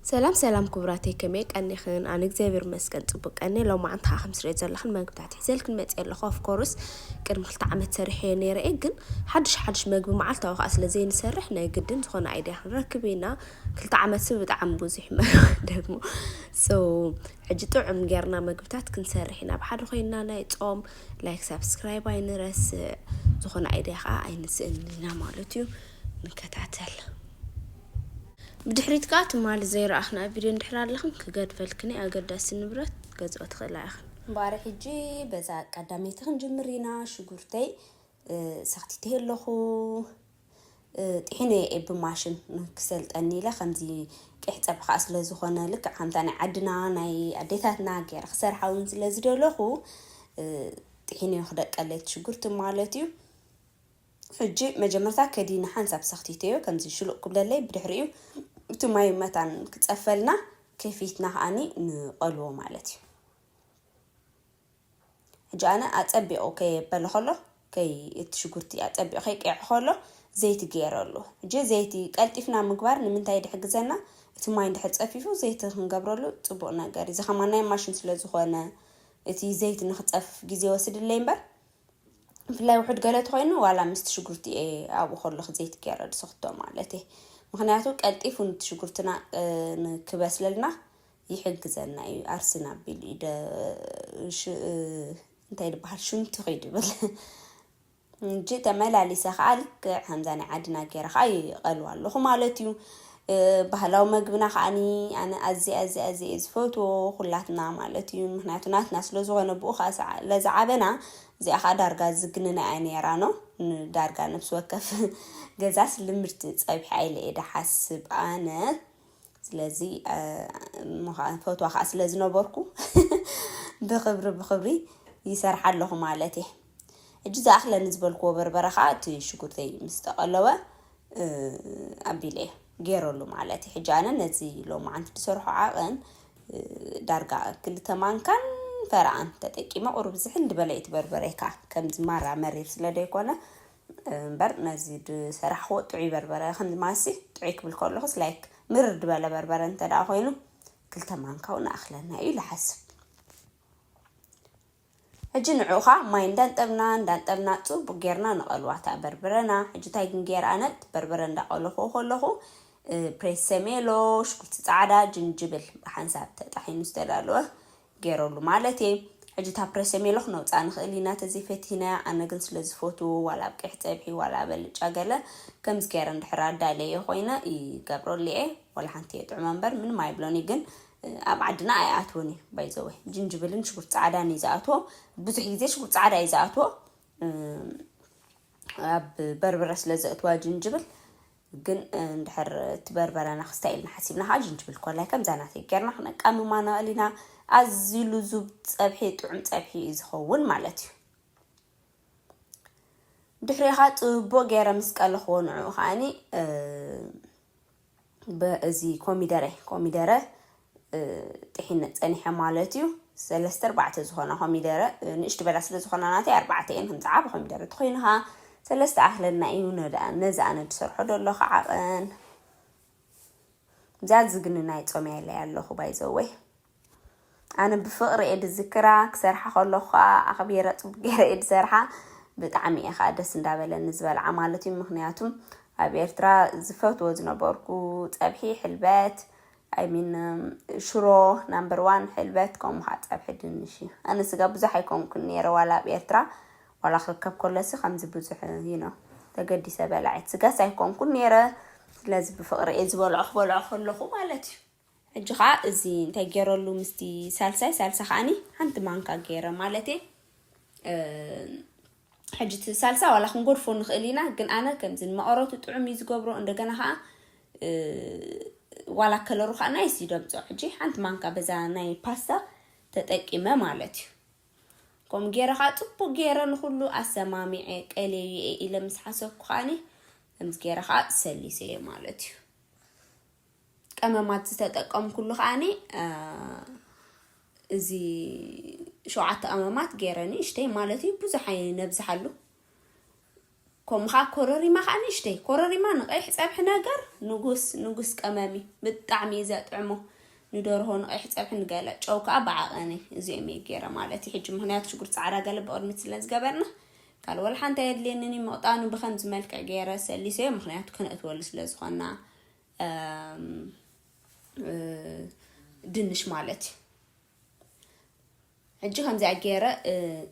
ሰላም ሰላም ኩቡራተይ ከመይ ቀኒክን ኣነ እግዚኣብሔር ይመስገን ጽቡቅ ቀንየ ሎማዓንቲ ከኣ ከም ትሪኦ ዘለክን መግብታት ሒዘልክን መጽየ ኣለኩ of course ቅድሚ ክልተ ዓመት ሰሪሐዮ ነይረ እየ ግን ሓድሽ ሓድሽ መግቢ መዓልታዊ ከኣ ስለ ዘይንሰርሕ ናይ ግድን ዝኮነ ኣይድያ ክንረክብ ኢና ክልተ ዓመት ሲ ብጣዕሚ ብዙሕ እዩ መግቢ ደግሞ so ሕጂ ጥዑም ጌርና መግብታት ክንሰርሕ ኢና ብሓደ ኮይና ናይ ጾም ላይክ ሳብስክራይብ ኣይንረስዕ ዝኮነ ኣይድያ ከኣ ኣይንስእን ኢና ማለት እዩ ንከታተል ብድሕሪት ከኣ ትማሊ ዘይረኣኽናዮ ቪድዮ እንድሕር ኣለኽን ክገድፈልክን'የ ኣገዳሲ ንብረት ክትገዝኦ ትኽእላ ኢኽን። እምበኣር ሕጂ በዛ ቀዳመይቲ ክንጅምር ኢና ሽጉርተይ ሰኽቲተዮ ኣለኹ ጢሒነዮ እየ ብማሽን ክሰልጠኒ ኢለ ከምዚ ቂሕ ጸብሒ ከኣ ስለ ዝኾነ ልክዕ ከምታ ናይ ዓድና ናይ ኣዴታትና ገይረ ክሰርሓ እውን ስለ ዝደለኹ ጢሒነዮ ክደቀለይ እቲ ሽጉርቲ ማለት እዩ ሕጂ መጀመርታ ከዲኒ ሓንሳብ ሰኽቲተዮ ከምዚ ሽሉቕ ክብለለይ ብድሕሪኡ እቲ ማይ መታን ክጸፈልና ከፊትና ከኣኒ ንቐልዎ ማለት እዩ። ሕጂ ኣነ ኣጸቢቑ ከየበለ ከሎ ከይ እቲ ሽጉርቲ ኣጸቢቑ ከይቀይዐ ከሎ ዘይቲ ገይረሉ። ሕጂ ዘይቲ ቀልጢፍና ምግባር ንምንታይ ድሕግዘና እቲ ማይ እንድሕር ጸፊፉ ዘይቲ ክንገብረሉ ጽቡቕ ነገር እዚ ከማን ናይ ማሽን ስለ ዝኾነ እቲ ዘይቲ ንክጸፍፍ ግዜ ይወስድለይ እምበር ብፍላይ ውሑድ ገለ ተኮይኑ ዋላ ምስቲ ሽጉርቲ እየ ኣብኡ ከለኩ ዘይቲ ገይረ ዝሰክቶ ማለት እየ ምክንያቱ ቀልጢፉ ንቲ ሽጉርትና ክበስለልና ይሕግዘና እዩ ኣርሲን ኣቢሉ እዩ እንታይ ድበሃል ሽንቲ ኸይዱ ይብል እንጂ ተመላሊሰ ከዓ ልክዕ ከምዛ ናይ ዓድና ገይረ ከዓ ይቐልዋ ኣለኹ ማለት እዩ ባህላዊ መግብና ከኣኒ ኣነ ኣዝየ ኣዝየ ኣዝየ እየ ዝፈትዎ ኩላትና ማለት እዩ ምክንያቱ ናትና ስለ ዝኮነ ብኡ ከኣ ስለ ዝዓበና እዚኣ ከኣ ዳርጋ ዝግንና እያ ነይራ ን ዳርጋ ነብሲ ወከፍ ገዛስ ልምድቲ ጸብሒ ኣይለ እየ ድሓስብ ኣነ ስለዚ እሞ ከኣ ፈትዋ ከኣ ስለ ዝነበርኩ ብክብሪ ብክብሪ ይሰርሓ ኣለኩ ማለት እየ ሕጂ ዝኣኽለ ንዝበልክዎ በርበረ ከኣ እቲ ሽጉርተይ ምስ ተቐለወ ኣቢለዮ ገይረሉ ማለት እዩ። ሕጂ ኣነ ነዚ ሎማዓንቲ ዝሰርሖ ዓቕን ዳርጋ ክልተ ማንካን ፈረቓን ተጠቂመ ቁሩብ ዝሕል ዝበለ እዩ እቲ በርበረይ ከኣ ከምዚ ማራ መሪር ስለ ዘይኮነ እምበር ነዚ ዝሰራሕክዎ ጥዑይ በርበረ ከምዚ ማሲ ጥዑይ ክብል ከለኹስ ላይክ ምርር ዝበለ በርበረ እንተ ኮይኑ ክልተ ማንካ እውን እኣኽለና እዩ ኢለ እሓስብ። ሕጂ ንዑ ከኣ ማይ እንዳንጠብና እንዳንጠብና ጽቡቅ ጌርና ንቀልዋ እታ በርበረና ሕጂ እንታይ ግን ጌረ ኣነ እቲ በርበረ እንዳቀለኩዎ ከለኩ ፕሬሰሜሎ ሽጉርቲ ጻዕዳ ጅንጅብል ብሓንሳብ ተጣሒኑ ዝተዳለወ ጌረሉ ማለት እየ ሕጂ እታ ፕሬሰሜሎ ክነውጻ ንክእል ኢና ተዘይ ፈቲህናያ ኣነ ግን ስለ ዝፈትዎ ዋላ ኣብ ቀይሕ ጸብሒ ዋላ ኣብ ኣልጫ ገለ ከምዚ ጌረ እንድሕር ኣዳልየዮ ኮይነ ይገብረሉ እየ ወላ ሓንቲ እየ ጥዑማ እምበር ምንም ኣይብሎን እዩ ግን ኣብ ዓድና ኣይኣትዎን እዩ ባይዘወ ጅንጅብልን ሽጉርቲ ፃዕዳን እዩ ዝኣትዎ ብዙሕ ግዜ ሽጉርቲ ፃዕዳ እዩ ዝኣትዎ ኣብ በርበረ ስለ ዘእትዋ ጅንጅብል ግን እንድሕር እቲ በርበረና ክስታይ ኢልና ሓሲብና ከዓ ጅንጅብል ኮላይ ከምዛ ናተይ ጌርና ክነቃምማ ንኽእል ኢና ኣዝዩ ልዙብ ፀብሒ ጥዑም ፀብሒ እዩ ዝኸውን ማለት እዩ ድሕሪኻ ፅቡቅ ገይረ ምስ ቀለኽዎ ንዕኡ ከዓኒ እዚ ኮሚደረ ኮሚደረ ጥሒነ ፀኒሐ ማለት እዩ ሰለስተ ኣርባዕተ ዝኾና ኮሚደረ ንእሽቲ በላ ስለ ዝኾና ናተይ ኣርባዕተ እየን ከምዚ ዓብ ኮሚደረ ተኮይኑ ከዓ ሰለስተ ኣክለና እዩ ነዚ ኣነ ዝሰርሖ ደሎ ከዓቐን እዛ ዝግንናይ ፆምያ ኢለያ ኣለኹ ባይዘወይ ኣነ ብፍቅሪ እየ ድዝክራ ክሰርሓ ከለኩ ከኣ ኣክቢረ ጽቡቅ ገይረ እየ ድሰርሓ ብጣዕሚ እየ ከኣ ደስ እንዳበለኒ ዝበልዓ ማለት እዩ ምክንያቱ ኣብ ኤርትራ ዝፈትዎ ዝነበርኩ ጸብሒ ሕልበት ኣይ ሚን ሽሮ ናምበር ዋን ሕልበት ከምኡ ከኣ ጸብሒ ድንሽ እዩ ኣነ ስጋ ብዙሕ ኣይኮንኩን ነይረ ዋላ ኣብ ኤርትራ ዋላ ክርከብ ከሎሲ ከምዚ ብዙሕ ዩ ነው ተገዲሰ በላዒት ስጋስ ኣይኮንኩን ነይረ ስለዚ ብፍቅሪ እየ ዝበልዖ ክበልዖ ከለኩ ማለት እዩ ሕጂ ከኣ እዚ እንታይ ጌረሉ ምስቲ ሳልሳይ ሳልሳ ከኣኒ ሓንቲ ማንካ ጌረ ማለቴ ሕጂ እቲ ሳልሳ ዋላ ክንጎድፎ ንኽእል ኢና ግን ኣነ ከምዚ ንመቐረቱ ጥዑም እዩ ዝገብሮ እንደገና ከኣ ዋላ ከለሩ ከዓ ናይስ ይደምፆ ሕጂ ሓንቲ ማንካ በዛ ናይ ፓስታ ተጠቂመ ማለት እዩ ከምኡ ገይረ ከዓ ፅቡቅ ገይረ ንኩሉ ኣሰማሚዐ ቀሌዩ እየ ኢለ ምስ ሓሰብኩ ከዓኒ ከምዚ ገይረ ከዓ ሰሊሰ እየ ማለት እዩ ቀመማት ዝተጠቀምኩሉ ከዓኒ እዚ ሸውዓተ ቀመማት ገይረ ንእሽተይ ማለት እዩ ብዙሕ ኣይነብዝሓሉ ከምኡ ከዓ ኮረሪማ ከዓ ንእሽተይ ኮረሪማ ንቀይሕ ፀብሒ ነገር ንጉስ ንጉስ ቀመም እዩ ብጣዕሚ እዩ ዘጥዕሞ ንደርሆ ንቀይሕ ፀብሒ ንገለ ጨው ከዓ ብዓቐኒ እዚኦም እዩ ገይረ ማለት እዩ ሕጂ ምክንያቱ ሽጉር ፃዕዳ ገለ ብቅድሚት ስለ ዝገበርና ካልእ ወላ ሓንቲ ኣየድልየንን እዩ ምቕጣኑ ብከምዚ መልክዕ ገይረ ሰሊሰዮ ምክንያቱ ከነእትወሉ ስለ ዝኾና ድንሽ ማለት እዩ ሕጂ ከምዚኣ ገይረ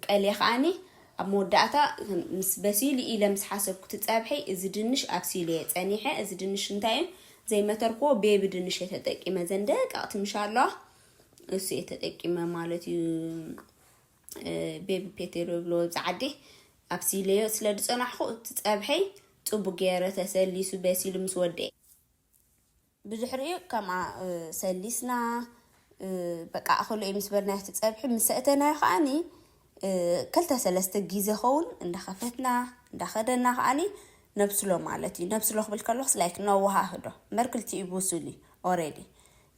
ቀልየ ከዓኒ ኣብ መወዳእታ ምስ በሲሉ ኢለ ምስ ሓሰብኩቲ ፀብሒ እዚ ድንሽ ኣብሲሉ እየ ፀኒሐ እዚ ድንሽ እንታይ እዩ ዘይመተርክዎ ቤቢ ድንሽ እየ ተጠቂመ ዘን ደቀቕቲ ምሻ ኣለዋ እሱ እየ ተጠቂመ ማለት እዩ ቤቢ ፔቴ ዶ ይብልዎ ኣብዚ ዓዲ ኣብሲለዮ ስለ ዝጸናሕኩ እቲ ጸብሐይ ጽቡቅ ገይረ ተሰሊሱ በሲሉ ምስ ወድኤ ብድሕሪኡ ከምኣ ሰሊስና በቃ ኣኸሎ እዩ ምስ በልናዮ እቲ ጸብሒ ምስ ሰእተናዮ ከኣኒ ክልተ ሰለስተ ግዜ ኸውን እንዳኸፈትና እንዳኸደና ከኣኒ ነብስሎ ማለት እዩ ነብስሎ ክብል ከለኹስ ላይክ ነወሃህዶ እምበር ክልቲኡ ብሱል እዩ ኦሬዲ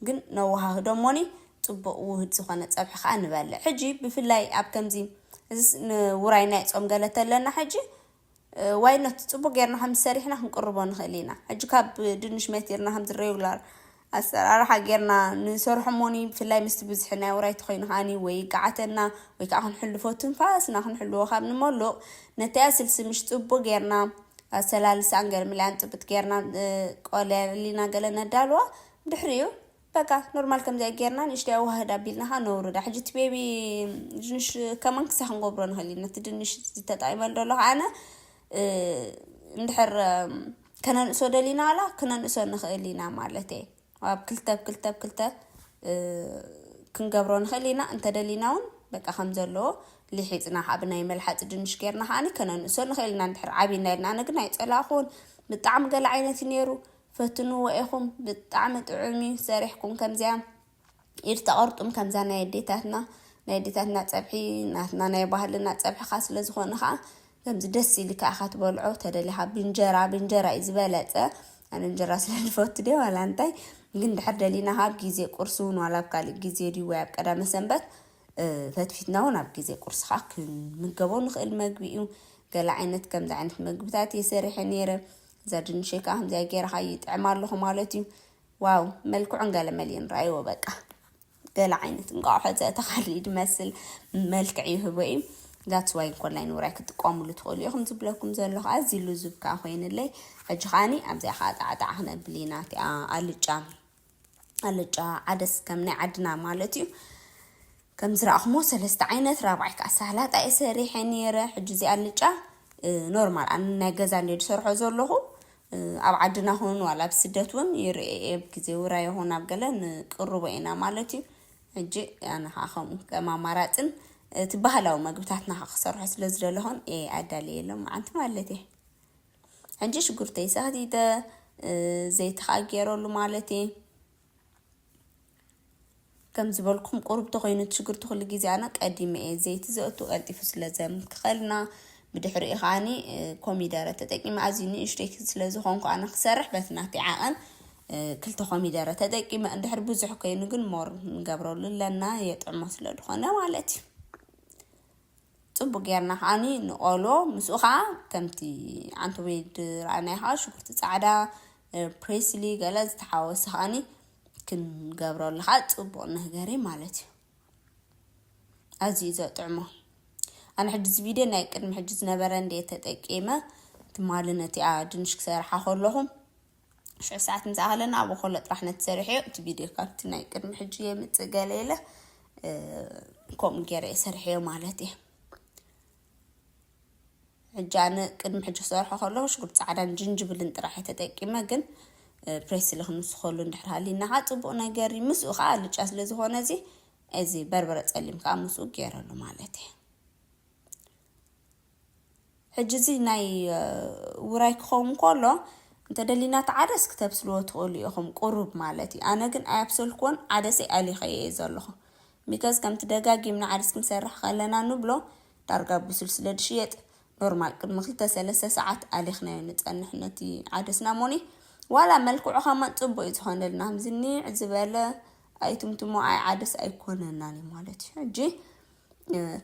ግን ነዋሃህዶ እሞኒ ጽቡቅ ውህድ ዝኮነ ጸብሒ ከኣ ንበልዕ ሕጂ ብፍላይ ኣብ ከምዚ እዚስ ንውራይ ናይ ጾም ገለ ተለና ሕጂ ዋይ ኖት ጽቡቅ ጌርና ከም ሰሪሕና ክንቅርቦ ንክእል ኢና ሕጂ ካብ ድንሽ መቲርና ከምዚ ሬጉላር ኣሰራርሓ ጌርና ንሰርሖ እሞኒ ብፍላይ ምስቲ ብዝሒ ናይ ውራይ ተኮይኑ ከኣኒ ወይ ይጋዓተና ወይ ከዓ ክንሕልፎ ትንፋስና ክንሕልዎ ካብ ንመሉቅ ነቲ ኣስልሲ ምሽ ጽቡቅ ጌርና ኣሰላልሳን ገርምላያን ጽብት ጌርና ቆልያ ሊና ገለ ነዳልዋ ድሕሪኡ በቃ ኖርማል ከምዚኣ ጌርና ንእሽተይ ኣዋህድ ኣቢልና ከ ነውርዳ ሕጂ እቲ ቤቢ ድንሽ ከማን ክሳዕ ክንገብሮ ንኽእል ኢና እቲ ድንሽ ዝተጣይመ ደሎ ከዓነ እንድሕር ከነንእሶ ደሊና ዋላ ክነንእሶ ንኽእል ኢና ማለት እየ ኣብ ክልተ ብ ክልተ ብ ክልተ ክንገብሮ ንኽእል ኢና እንተደሊና እውን በቃ ከም ዘለዎ ሊሒፅና ካብ ናይ መልሓፂ ድንሽ ጌርና ከዓኒ ከነንእሶ ንኽእል ኢና እንድሕር ዓብይና ኢልና ኣነ ግን ኣይፀላእኹን ብጣዕሚ ገለ ዓይነት እዩ ነይሩ ፈትንዎ ኢኩም ብጣዕሚ ጥዑም እዩ ሰሪሕኩም ከምዚኣ ኢድ ተቀርጡም ከምዛ ናይ ኣዴታትና ናይ ኣዴታትና ጸብሒ ናትና ናይ ባህልና ጸብሕካ ስለ ዝኮነ ከኣ ከምዚ ደስ ኢልካ ኢካ ትበልዖ ተደሊካ ብእንጀራ ብእንጀራ እዩ ዝበለጸ ኣነ እንጀራ ስለ ዝፈቱ ድየ ዋላ እንታይ ግን ድሕር ደሊና ካብ ግዜ ቁርሲ እውን ዋላ ኣብ ካልእ ግዜ ድዩ ወይ ኣብ ቀዳመ ሰንበት ፈትፊትና እውን ኣብ ግዜ ቁርሲ ከዓ ክንምገቦ ንኽእል መግቢ እዩ ገለ ዓይነት ከምዚ ዓይነት መግብታት እየ ሰሪሐ ነይረ ዘድንሸይ ከኣ ከምዚኣ ጌርኻ እዩ ይጥዕም ኣለኹ ማለት እዩ ዋው መልክዑን ገለ መሊኡን ራይዎ በቃ ገለ ዓይነት እንቋቑሖ ዘእተኻሉ ድመስል መልክዕ ይህቦ እዩ ዛትስ ዋይ ኮላይ ንውራይ ክትጥቀሙሉ ትኽእሉ ኢኹም ዝብለኩም ዘለኹ ኣዝዩ ልዙብ ከዓ ኮይንለይ ሕጂ ከዓኒ ኣብዚኣ ከዓ ጣዕጣዕ ክነብል ኢና እቲኣ ኣልጫ ኣልጫ ዓደስ ከም ናይ ዓድና ማለት እዩ ከም ዝረኣኹሞ ሰለስተ ዓይነት ራብዓይ ከዓ ሳላጣ እየ ሰሪሐ ነይረ ሕጂ እዚ ኣልጫ ኖርማል ኣነ ናይ ገዛ እንደ ዝሰርሖ ዘለኹ ኣብ ዓድና ኹን ዋላ ኣብ ስደት እውን ይርኤ እየ ኣብ ግዜ ውራ ይኹን ኣብ ገለ ንቅርቦ ኢና ማለት እዩ ሕጂ ኣነ ከዓ ከምኡ ከም ኣማራፅን እቲ ባህላዊ መግብታትና ክሰርሖ ስለ ዝደለኹን ኣዳልየ ሎም መዓንቲ ማለት እየ ሕጂ ሽጉርተይ ሳህቲተ ዘይቲ ከዓ ገይረሉ ማለት እየ ከም ዝበልኩም ቁርብ ተኮይኑ እቲ ሽጉርቲ ኩሉ ግዜ ኣነ ቀዲመ እየ ዘይቲ ዘእቱ ቀልጢፉ ስለ ዘምክኸልና ብድሕሪኡ ከዓኒ ኮሚደረ ተጠቂመ ኣዝዩ ንእሽተይ ስለ ዝኾንኩ ኣነ ክሰርሕ በቲ ናተይ ዓቐን ክልተ ኮሚደረ ተጠቂመ እንድሕር ብዙሕ ኮይኑ ግን ሞር ንገብረሉ ኣለና የጥዕሞ ስለ ዝኾነ ማለት እዩ ጽቡቅ ጌርና ከኣ ንቆሎ ምስኡ ከኣ ከምቲ ዓንተቤድ ዝረኣናዮ ከኣ ሽጉርቲ ጻዕዳ ፕሬስሊ ገለ ዝተሓወሰ ከኣ ክንገብረሉ ከኣ ጽቡቅ ነገር እዩ ማለት እዩ ኣዝዩ ዘጥዕሞ ኣነ ሕጂ እዚ ቪድዮ ናይ ቅድሚ ሕጂ ዝነበረ እንዴ ተጠቂመ ትማሊ ነቲኣ ድንሽ ክሰርሓ ከለኹ ሽሕ ሰዓት ምስ ኣኸለ ናብኡ ከሎ ጥራሕ ነቲ ሰሪሐዮ እቲ ቪድዮ ካብቲ ናይ ቅድሚ ሕጂ የምጽእ ገለ ኢለ ከምኡ ገይረ እየ ሰሪሐዮ ማለት እየ ሕጂ ኣነ ቅድሚ ሕጂ ክሰርሖ ከለኹ ሽጉርቲ ፃዕዳን ጅንጅብልን ጥራሕ እየ ተጠቂመ ግን ፕሬስ ስለ ክንስኸሉ እንድሕር ሃሊና ከዓ ፅቡቅ ነገር እዩ ምስኡ ከዓ ኣልጫ ስለ ዝኾነ እዚ እዚ በርበረ ፀሊም ከዓ ምስኡ ገይረሉ ማለት እዩ ሕጂ እዚ ናይ ውራይ ክኸውን ከሎ እንተ ደሊና እቲ ዓደስ ክተብስልዎ ትኽእሉ ኢኹም ቁሩብ ማለት እዩ ኣነ ግን ኣያብሰልክዎን ዓደሰይ ኣሊኸዮ እየ ዘለኹ ሚከዝ ከምቲ ደጋጊምና ዓደስ ክንሰርሕ ከለና ንብሎ ዳርጋ ብሱል ስለ ድሽየጥ ኖርማል ቅድሚ ክልተ ሰለስተ ሰዓት ኣሊኽናዮ ንጸንሕ ነቲ ዓደስና ሞኒ ዋላ መልክዑ ከማን ጽቡቅ እዩ ዝኾነልና ከምዚ ኒዕ ዝበለ ኣይትምትሞ ኣይ ዓደስ ኣይኮነናን እዩ ማለት እዩ ሕጂ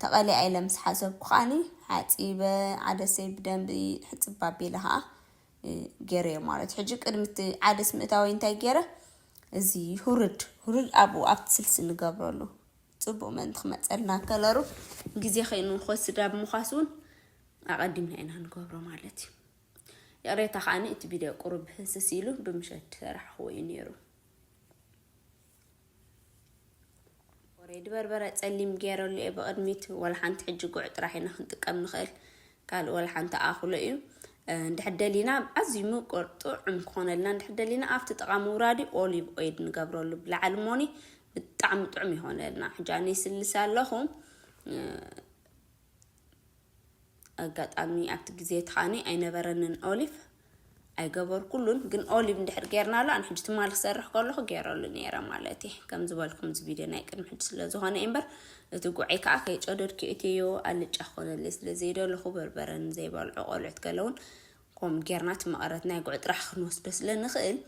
ተቐሊዓ ኢለ ምስ ሓሰብኩ ከኣኒ ሓጺበ ዓደሰይ ብደንቢ ሕጽብ ኣቢለ ከኣ ገይረዮ ማለት እዩ። ሕጂ ቅድሚ እቲ ዓደስ ምእታወይ እንታይ ገይረ እዚ ሁርድ ሁርድ ኣብኡ ኣብቲ ስልሲ ንገብረሉ ጽቡቕ ምእንቲ ክመጸልና ከለሩ ግዜ ከይኑ ክወስድ ኣብ ምዃስ እውን ኣቐዲምና ኢና ንገብሮ ማለት እዩ። ይቕሬታ ከኣኒ እቲ ቪድዮ ቁሩብ ህስስ ኢሉ ብምሸት ሰራሕኽዎ እዩ ነይሩ። ወረይ ድበርበረ ጸሊም ገይረሉ እየ ብቕድሚት ወላ ሓንቲ ሕጂ ጉዕ ጥራሕ ኢና ክንጥቀም ንኽእል ካልእ ወላ ሓንቲ ኣኽሎ እዩ እንድሕር ደሊና ኣዝዩ ምቁር ጥዑም ክኾነልና እንድሕር ደሊና ኣብቲ ጥቓ ምውራዲ ኦሊቭ ኦይል ንገብረሉ ብላዕሊ ሞኒ ብጣዕሚ ጥዑም ይኾነልና ሕጂ ኣነ ይስልስ ኣለኹ ኣጋጣሚ ኣብቲ ግዜ እቲ ከኣኒ ኣይነበረንን ኦሊቭ ኣይገበርኩሉን ግን ኦሊቭ እንድሕር ጌርናሉ ኣነ ሕጂ ትማሊ ክሰርሕ ከለኹ ጌረሉ ነይረ ማለት እየ ከም ዝበልኩም እዚ ቪድዮ ናይ ቅድሚ ሕጂ ስለ ዝኾነ እምበር እቲ ጉዐይ ከዓ ከይጨደድኩ እትዮ ኣልጫ ክኾነለይ ስለ ዘይደለኹ በርበረን ዘይበልዑ ቆልዑት ገለውን ከምኡ ጌርና እቲ መቐረት ናይ ጉዕ ጥራሕ ክንወስዶ ስለ ንኽእል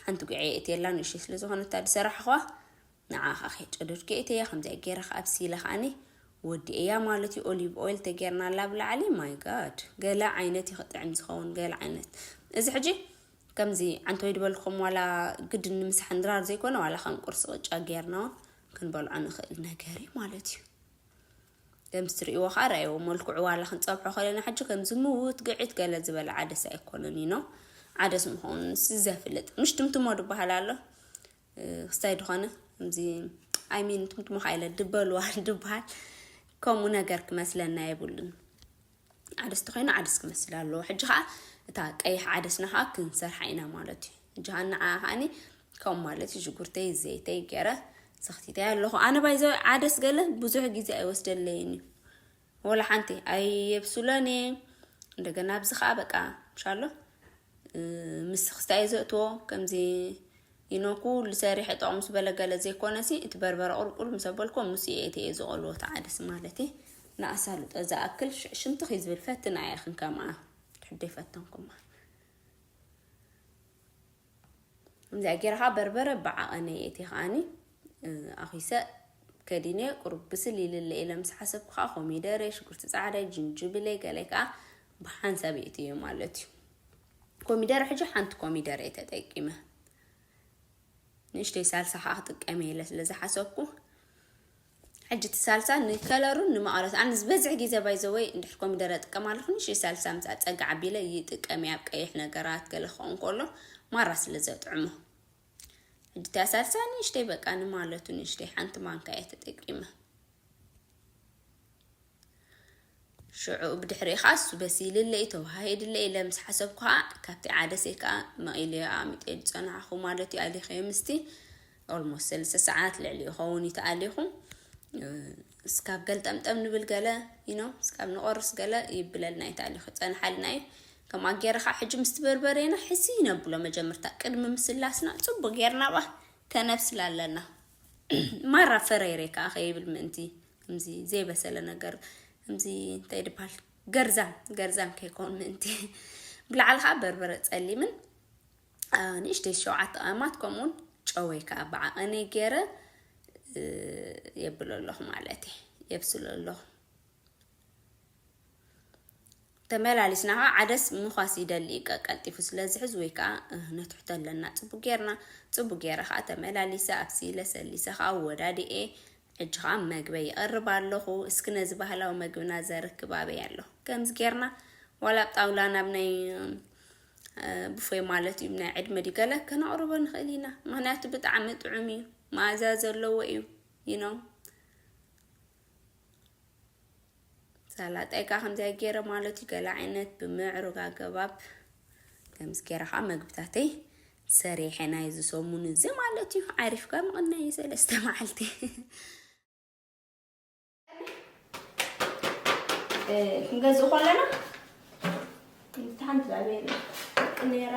ሓንቲ ጉዐ እትየላ ንእሽተይ ስለ ዝኾነ እታ ዝሰራሕኹዋ ንዓኻ ከይጨደድኩ እየ እተያ ከምዚኣ ገይረ ከኣ ኣብሲለ ከኣኒ ወዲኤያ ማለት እዩ ኦሊቭ ኦይል ተገይርናላ ኣብ ላዕሊ ማይ ጋድ ገለ ዓይነት እዩ ክጥዕም ዝኸውን ገለ ዓይነት እዚ ሕጂ ከምዚ ዓንተወይ ድበልኩም ዋላ ግድን ንምሳሕ ንድራር ዘይኮነ ዋላ ከም ቁርሲ ቅጫ ገይርና እውን ክንበልዖ ንኽእል ነገር እዩ ማለት እዩ ከምዚ ትርእይዎ ከዓ ርኣይዎ መልክዑ ዋላ ክንፀብሖ ከለና ሕጂ ከምዚ ምውት ግዒት ገለ ዝበለ ዓደስ ኣይኮነን እዩ ኖ ዓደስ ምዃኑ ንስ ዘፍልጥ ምሽ ትምትሞ ድበሃል ኣሎ ክስታይ ድኾነ ከምዚ ኣይሚን ትምትምኻ ኢለ ድበልዋ ድበሃል ከምኡ ነገር ክመስለና የብሉን ዓደስ ተኮይኑ ዓደስ ክመስል ኣለዎ ሕጂ ከዓ እታ ቀይሕ ዓደስና ከዓ ክንሰርሓ ኢና ማለት እዩ ሕጂ ከዓ ንዓ ከዓኒ ከምኡ ማለት እዩ ሽጉርተይ ዘይተይ ገይረ ሰኽቲተይ ኣለኹ ኣነ ባይዘ ዓደስ ገለ ብዙሕ ግዜ ኣይወስደለይን እዩ ወላ ሓንቲ ኣይየብሱለን እየ እንደገና ኣብዚ ከዓ በቃ ምሻሎ ምስ ክስታይ ዘእትዎ ከምዚ ይኖ ኩሉ ሰሪሐ ጠቕሙ ዝበለ ገለ ዘይኮነ ሲ እቲ በርበረ ቁልቁል ምስ ኣበልኮ ምስ እየ እቲ እየ ዝቐልዎ ተዓደስ ማለት እየ ንኣሳልጦ ዝኣክል ሽንቲ ክይዝብል ፈትና እየ ክንከምኣ ትሕደይ ፈተንኩማ ከምዚኣ ጌረ ከዓ በርበረ ብዓቐነ የእቲ ከዓኒ ኣኺሰ ከዲነ ቁሩብ ብስል ይልለ ኢለ ምስ ሓሰብኩ ከዓ ኮሚደረ፣ ሽጉርቲ ፃዕዳይ፣ ጅንጅብለ ገለ ከዓ ብሓንሳብ የእቲ እየ ማለት እዩ። ኮሚደረ ሕጂ ሓንቲ ኮሚደረ እየ ተጠቂመ ንእሽተይ ሳልሳ ከዓ ክጥቀመ ኢለ ስለዝሓሰብኩ ሕጂ እቲ ሳልሳ ንከለሩን ንመቐረቱ ኣነ ዝበዝሕ ግዜ ባይ ዘ ወይ እንድሕር ኮሚደረ እጥቀም ኣለኹ ንእሽተይ ሳልሳ ምስ ኣጸግዕ ኣቢለ ይጥቀም እየ ኣብ ቀይሕ ነገራት ገለ ክኸውን ከሎ ማራ ስለ ዘጥዕሞ ሕጂ እታ ሳልሳ ንእሽተይ በቃ ንማለቱ ንእሽተይ ሓንቲ ማንካ እየ ተጠቂመ ሽዑ ብድሕሪኡ ኸኣ እሱ በሲልለይ፣ ተዋሃሂድለይ ኢለ ምስ ሓሰብኩ ኸኣ ካብቲ ዓደሰይ ከኣ መቒለዮ ኣቕሚጠዮ ዝጸናሕኹ ማለት'ዩ ኣሊኸዮ ምስቲ ኦልሞስት ሰለስተ ሰዓት ልዕሊኡ ይኸውን እዩ ተኣሊኹ እስካብ ገልጠምጠም ንብል ገለ ዩኖ እስካብ ንቆርስ ገለ ይብለልና እዩ ተኣሊኹ ይጸንሓልና እዩ ከምኣ ጌረ ኸኣ ሕጂ ምስቲ በርበሬና ሕዚ ነብሎ መጀመርታ ቅድሚ ምስላስና ጽቡቕ ጌርና ባ ከነብስላ ኣለና ማራ ፈረይረይ ከኣ ከይብል ምእንቲ ከምዚ ዘይበሰለ ነገር ከምዚ እንታይ ድበሃል ገርዛም ገርዛም ከይኮን ምእንቲ ብላዕሊ ከዓ በርበረ ፀሊምን ንእሽተይ ሸውዓተ ቀማት ከምኡውን ጨወይ ከዓ ብዓቐኒ ገይረ የብሎ ኣለኹ ማለት እየ የብስሎ ኣለኹ ተመላሊስና ከኣ ዓደስ ምዃስ ይደሊ እዩ ቀቀልጢፉ ስለ ዝሕዝ ወይ ከኣ ነትሕቶ ኣለና ጽቡቅ ጌርና ጽቡቅ ጌረ ከኣ ተመላሊሰ ኣብሲለ ሰሊሰ ከኣ ኣወዳዲኤ ሕጂ ከኣ መግበይ ይቅርብ ኣለኹ እስኪ ነዚ ባህላዊ መግብና ዘርክብ ኣበይ ኣሎ ከምዚ ጌርና ዋላ ኣብ ጣውላ ናብ ናይ ብፎይ ማለት እዩ ናይ ዕድመ ድዩ ገለ ከነቕርቦ ንኽእል ኢና ምክንያቱ ብጣዕሚ ጥዑም እዩ መኣዛ ዘለዎ እዩ ይነው ሳላጣይ ከዓ ከምዚያ ገይረ ማለት እዩ ገለ ዓይነት ብምዕሩግ ኣገባብ ከምዚ ገይረ ከዓ መግብታተይ ሰሪሐ ናይ እዚ ሰሙን እዚ ማለት እዩ ዓሪፍካ ምቕናይ እዩ ሰለስተ መዓልቲ ክንገዝእ ከለና ሓንቲ ዛቤ ነራ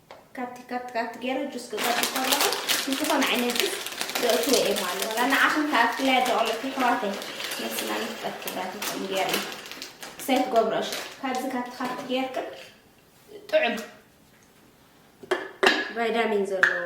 ካብቲ ካብቲ ካብቲ ገይረ ጁስ ክገብር ከለኹ ንዝኾነ ዓይነት ጁስ ዘእትዎ እየ ማለት ዋላ ንዓኹም ተኣክለያ ደቕለኩ ኣሕዋተይ ነስና ንፍጠር ክብራትኩም ገይርኒ ክሳይ ትገብሮ እሺ ካብዚ ካብቲ ካብቲ ገይርክ ጥዑም ቫይታሚን ዘለዎ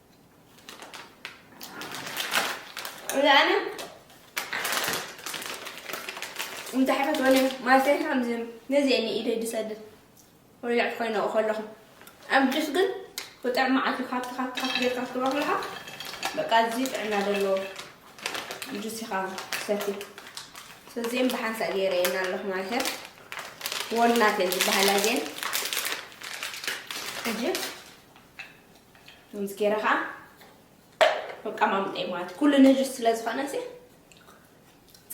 እዛኣነ እንታይ ሕፈት ወለ ማለተይ ከምዚ ነዚ እየ ንኢደይ ድሰድድ ወሊዕ ኮይነ ከለኹ ኣብ ጁስ ግን ብጥዕሚ ዓት ካብቲ ካብቲ ካብቲ ጌርካ ክትብሎ ከለካ በቃ እዚ ጥዕና ዘለዎ ጁስ ኢኻ ሰቲ ስለዚኦም ብሓንሳእ ገይረ የና ኣለኹ ማለት እየ ወልናት እየን ዝበሃላ እዚአን ሕጂ ከምዚ ገይረ ከዓ መቀማምጠይ ማለት ኩሉ ንእሽት ስለዝኾነ እዚ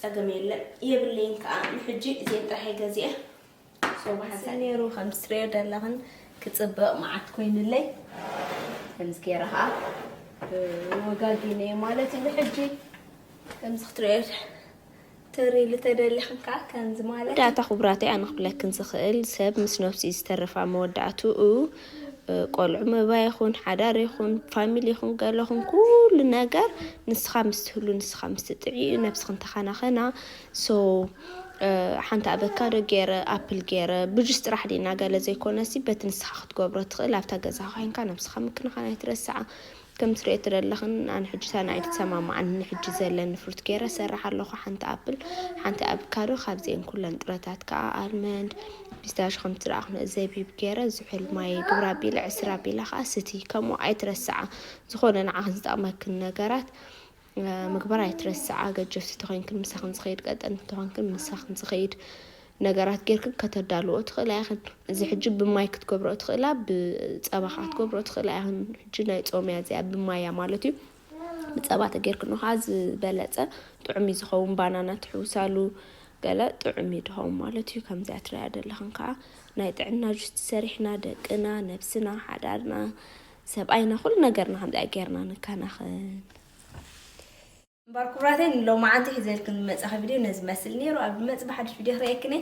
ፀገም የለን የብለይን ከዓ ንሕጂ እዚአን ጥራሕየ ገዚአ ሶባሓንሳ ነይሩ ከም ትሪኦ ዘለኽን ክፅብቕ መዓት ኮይኑለይ ከምዚ ገይረ ከዓ ወጋጊነየ ማለት እዩ ንሕጂ ከምዚ ክትሪኦ ተርእይ ልተደሊኽን ከኣ ከምዚ ማለት እዩ። መወዳእታ ኩቡራተይ ኣነ ክብለክን ዝኽእል ሰብ ምስ ነብሱ እዩ ዝተርፍ ኣብ መወዳእትኡ ቆልዑ ምእባይ ይኹን ሓዳር ይኹን ፋሚሊ ይኹን ገለ ይኹን ኩሉ ነገር ንስኻ ምስ ትህሉ ንስኻ ምስ ትጥዕይ እዩ ነብስኽን ተኻናኸና ሶ ሓንቲ ኣበካዶ ገይረ ኣፕል ገይረ ብጁስ ጥራሕ ድና ገለ ዘይኮነሲ በቲ ንስኻ ክትገብሮ ትኽእል ኣብታ ገዛኻ ኮይንካ ነብስኻ ምክንኻን ኣይትረስዓ ከምቲ ትሪኦ ትደለኺ ኣነ ሕጂ ሳኒ ኣይትሰማማዕን ንሕጂ ዘለኒ ፍሩት ገይረ ሰራሕ ኣለኹ ሓንቲ ኣፕል ሓንቲ ኣብካዶ ካብዚኤን ኩለን ጥረታት ከኣ ኣልመንድ ፒስታሽ ከምቲ ዝረኣኹነ ዘቢብ ገይረ ዝሑል ማይ ግብረ ኣቢለ ዕስር ኣቢላ ከኣ ስቲ ከምኡ ኣይትረስዓ ዝኾነ ንዓኽን ዝጠቕመክን ነገራት ምግባር ኣይትረስዓ ገጀፍቲ ተኮንክን ምሳክን ዝከይድ ቀጠንቲ ተኮንክን ምሳክን ዝከይድ ነገራት ጌርክን ከተዳልዎ ትኽእላ ኢኽን እዚ ሕጂ ብማይ ክትገብሮ ትኽእላ ብፀባ ከዓ ትገብሮ ትኽእላ ኢኽን ሕጂ ናይ ፆም እያ እዚኣ ብማያ ማለት እዩ ብፀባ ተጌርክኖ ከዓ ዝበለፀ ጥዑም እዩ ዝኸውን ባናና ትሕውሳሉ ገለ ጥዑም እዩ ድኸውን ማለት እዩ ከምዚኣ ትሪኣ ዘለኽን ከዓ ናይ ጥዕና ጁስ ሰሪሕና ደቅና ነብስና ሓዳርና ሰብኣይና ኩሉ ነገርና ከምዚኣ ጌርና ንከናኸን። እምበር ኩቡራተይ ንሎማዓንቲ ሒዘልክን ዝመጻኺ ቪድዮ ነዚ መስል ኔሩ ኣብ ዝመጽእ ብሓድሽ ቪድዮ ክሪኤክን እየ።